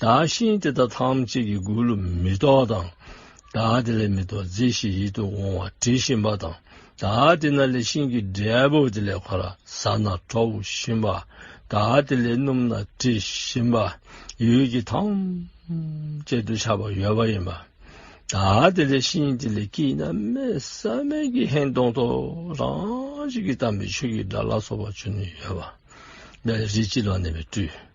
བདག་གཞན་དེ་དག་ཐམས་ཅད་ཀྱི་མགུལ་ལོ་མི་ལྡོག་དང། བདག་དེ་ལས་མི་ལྡོག་མཛེས་ཤིང་ཡིད་དུ་འོང་བ་དྲི་ཞིམ་པ་དང་བདག་དེ་ན་ལས་ཤིང་གི་འབྲས་བུ་དེ་ལས་གོ་ལ་ས་ན་ཁྲོ་བོ་བཞིན་པ་བདག་དེ་ལས་སྣུམ་ན་དྲི་ཞིམ་པ་ཡུལ་གྱི་ཐམས་ཅད་དུ་ཆགས་པ་ཡོད་པ་ཡིན་པ། བདག་དེ་ལས་ཤིང་དེ་ལས་སྐྱེས་ན་མེ་བསམ་མེད་ཀྱི་ཧེ་མདོངས་ཐོ་རངས་བྱེད་ཀྱི་དམ་པའི་ཆོས་ཀྱི་སྒྲ་ལ་སོགས་པ་བྱོན་ནས་ཡོད་པ། རིགས་ཀྱི་ལག་ནས་པའི་སྤྲུལ།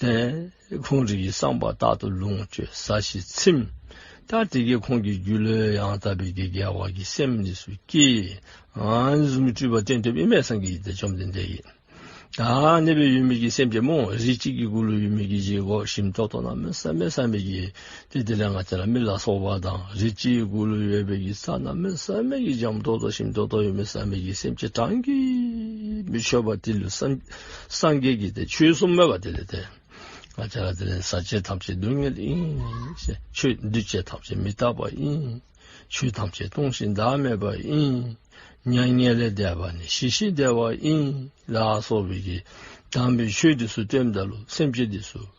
ལྟས། ཁོང་རིགས་ཀྱི་བསམ་པ་རྟག་ཏུ་ལོངས་སྤྱོད་ས་གཞི་ཚིམ། ད་དེ་སྐད་ཁོང་གི་རྒྱུད་ལོའི་ཡང་དག་པའི་དགེ་རྒྱལ་བ་གྱི་སེམས་གཉིས་སུ་སྐྱེས། གཟུགས་མི་སྤྲུལ་པ་སྟོན་ཐོབ་དབྱེར་མེད་སངས་རྒྱས་ཀྱི་དགྲ་བཅོམ་ལྡན་འདས་ཡིན། ད་གནས་པའི་ཡུལ་མིག་གི་སེམས་ཀྱི་རྨོངས་རིས་གཅིག་གི་སྐུ་ལུས་ཡུལ་མིག་གི་བཞི་གོ་ཞིམ་ཏོག་ཏོག་རྣམས་སམེ་སམེ་ཀྱི། དེ་དེ་ལས་ང་ཚེ་ལ་མི་ལ་སོགས་པ་དང་རིགས་གཅིག་དགུ་ལོ་ཡོད་པའི་ཡིད་ས་ན་མི་བསམ་མེད་ཀྱི་འཇམ་རྡོ་རྡོ་ཞིང་རྡོ་རྡོ་ཡོད་མི་བསམ་མེད་ཀྱི་སེམས་ཀྱི་གྲངས་ཀྱིས་མི་ཆོད་པ་དེ་ལུས་སངས་རྒྱས་ཀྱི་དེ་ཆོས་གསུམ་མོས་པ་དེ་ལས་དེ་ང་ཚེ་ལ་དེ་ལས་ཟག་བཅས་ཐམས་ཅད་སྡུག་བསྔལ་ཡིན་ཆོས་འདུས་བྱས་ཐམས་ཅད་མི་རྟག་པ་ཡིན་ཆོས་ཐམས་ཅད་སྟོང་ཞིང་བདག་མེད་པ་ཡིན་མྱ་ངན་ལས་འདས་པ་ནི་ཞི་ཞིང་བདེ་བ་ཡིན་ལ་སོགས་པའི་གདམས་པའི་ཆོས་འདི་སུ་བསྟན་བདག་ལུས་སེམས་ཀྱི་དེ་སུ།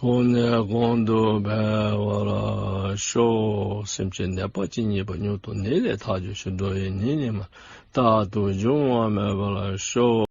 དབུ་ནས་གོང་དུ་འཕེལ་བར་ཤོག། སེམས་ཀྱི་ནད་པ་ཇི་སྙེད་པ་མྱུར་དུ་ནད་ལས་ཐག་གཅོད་བྱེད་འགྲོ་བའི་ཉིན་ནི་མ་རྟག་ཏུ་འབྱུང་བ་མེད་པར་ཤོག།